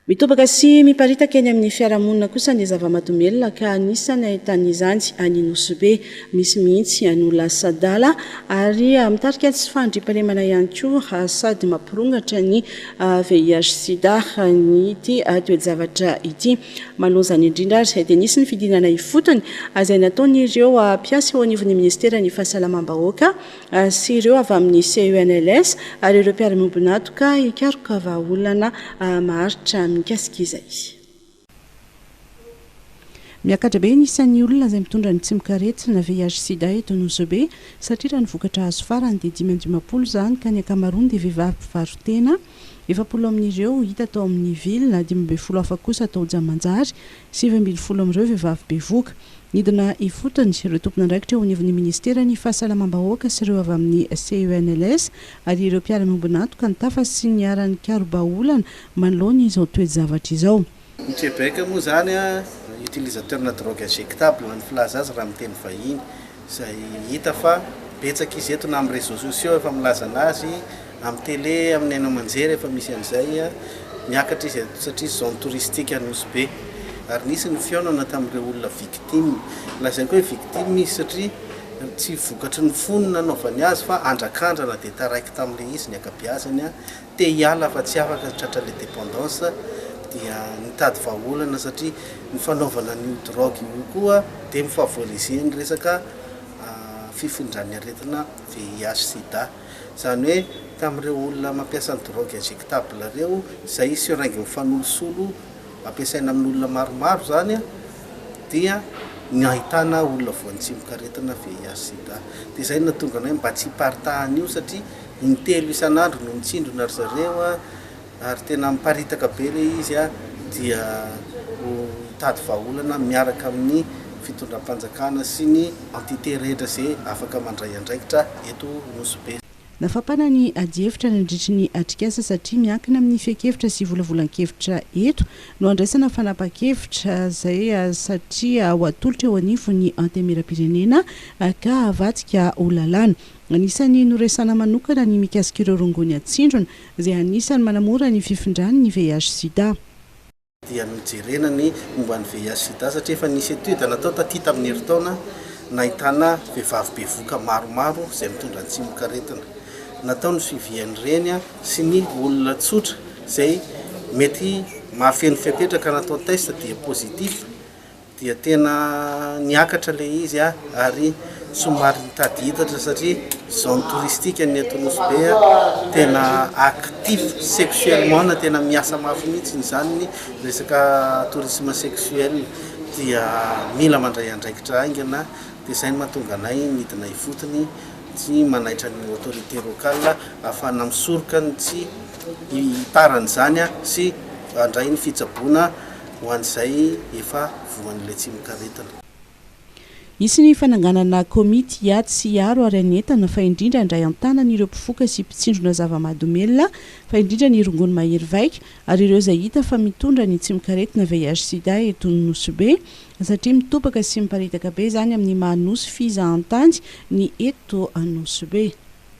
Mitobaka sy miparitaka eny amin'ny fiarahamonina kosa ny zava-mahadomelina ka anisany ahitan'izany any Nosy Be. Misy mihitsy no lasa adala ary mitarika tsy fandriampahalemana ihany koa sady mampirongatra ny VIH-Sida ity toe-javatra ity. Manoloan'izany indrindra ary dia nisy ny fidinana ifotony izay nataon'ireo mpiasa eo anivon'ny minisiteran'ny Fahasalamam-bahoaka sy ireo avy amin'ny CENLS ary ireo mpiara-miombon'antoka hikaroka vahaolana maharitra mikasika izay. Miakatra be ny isan'ny olona izay mitondra ny tsimokaretina VIH-sida eto Nosy-Be satria raha ny vokatra azo farany dia dimy amby dimampolo izany ka ny ankamaroany dia vehivavy mpivaro-tena, efapolo amin'ireo hita tao amin'ny ville, dimy ambin'ny folo hafa kosa tao Jamanjary, Sivy ambin'ny folo amin'ireo vehivavy bevoka. Nidina ifotony ireo tompon'andraikitra eo anivon'ny Minisiteran'ny Fahasalamam-bahoaka sy ireo avy amin'ny CENLS ary ireo mpiara-miombon'antoka ny tafa sy niara-nikarobaolana manoloana izao toe-javatra izao. Ny Québec moa izany, utilisateur-na drogue injectable, ny filaza azy raha amin'ny teny vahiny. izay hita fa betsaka izy eto na amin'ny réseaux sociaux efa milaza anazy, amin'ny télé, amin'ny haino aman-jery efa misy an'izay, miakatra izy eto satria zone touristique Anosy Be ary nisy ny fihaonana tamin'ireo olona victime, lazainy koa hoe victime izy satria tsy vokatry ny fony nanaovany azy fa andrakandrana dia taraiky tamin'ilay izy ny ankabeazany. te hiala fa tsy afaka tratra le dependance dia nitady vahaolana satria ny fanaovana an'io drogue io koa dia mi-favoriser ny resaka fifindran'ny aretina VIH sida izany hoe tamin'ireo olona mampiasa ny drogue injectable ireo izay seringue mifanolosolo ampiasaina amin'olona maromaro izany dia ny ahitana olona voantsimoka aretina VIH sida dia izay no nahatonga anay mba tsy hiparitahan'io satria Intelo isan'andro no mitsindrona ry zareo ary tena miparitaka be ilay izy dia ho hitady vahaolana miaraka amin'ny fitondram-panjakana sy ny entité rehetra izay afaka mandray andraikitra eto Nosy Be. Nafampana ny adihevitra nandritry ny atrikasa satria miankina amin'ny fehin-kevitra sy volavolan-kevitra eto no andraisana fanapahan-kevitra izay satria ho atolotra eo anivon'ny Antenimierampirenena ka havadika ho lalàna. Anisan'ny noresahana manokana ny mikasika ireo rongony atsindrona, izay anisan'ny manamora ny fifindran' ny VIH-Sida. dia nojerena ny momba ny VIH-Sida satria efa nisy étude natao taty tamin'ny herintaona nahitana vehivavy bevoka maromaro izay mitondra ny tsimokaretina. Natao ny suivi an'ireny sy ny olona tsotra izay mety mahafeno fepetra ka natao test dia positif. dia tena niakatra ilay izy ary somary nitady hitatra satria zone touristique ny eto Nosy Be tena actif sexuellement na tena miasa mafy mihitsy izany ny resaka tourisme sexuel dia mila mandray andraikitra haingana dia izay no mahatonga anay nidina ifotony sy manaitra ny autorité locale ahafahana misoroka ny tsy hitarany izany sy handray ny fitsaboana ho an'izay efa voan'ilay tsimokaretina. Hisy ny fananganana komity hiady sy hiaro ary hanentana fa indrindra handray an-tanana ireo mpifoka sy mpitsindrona zava-mahadomelina fa indrindra ny rongony mahery vaika ary ireo izay hita fa mitondra ny tsimokaretina VIH-sida eto Nosy-Be satria mitobaka sy miparitaka be izany amin'ny maha Nosy fizahantany ny eto Nosy-Be.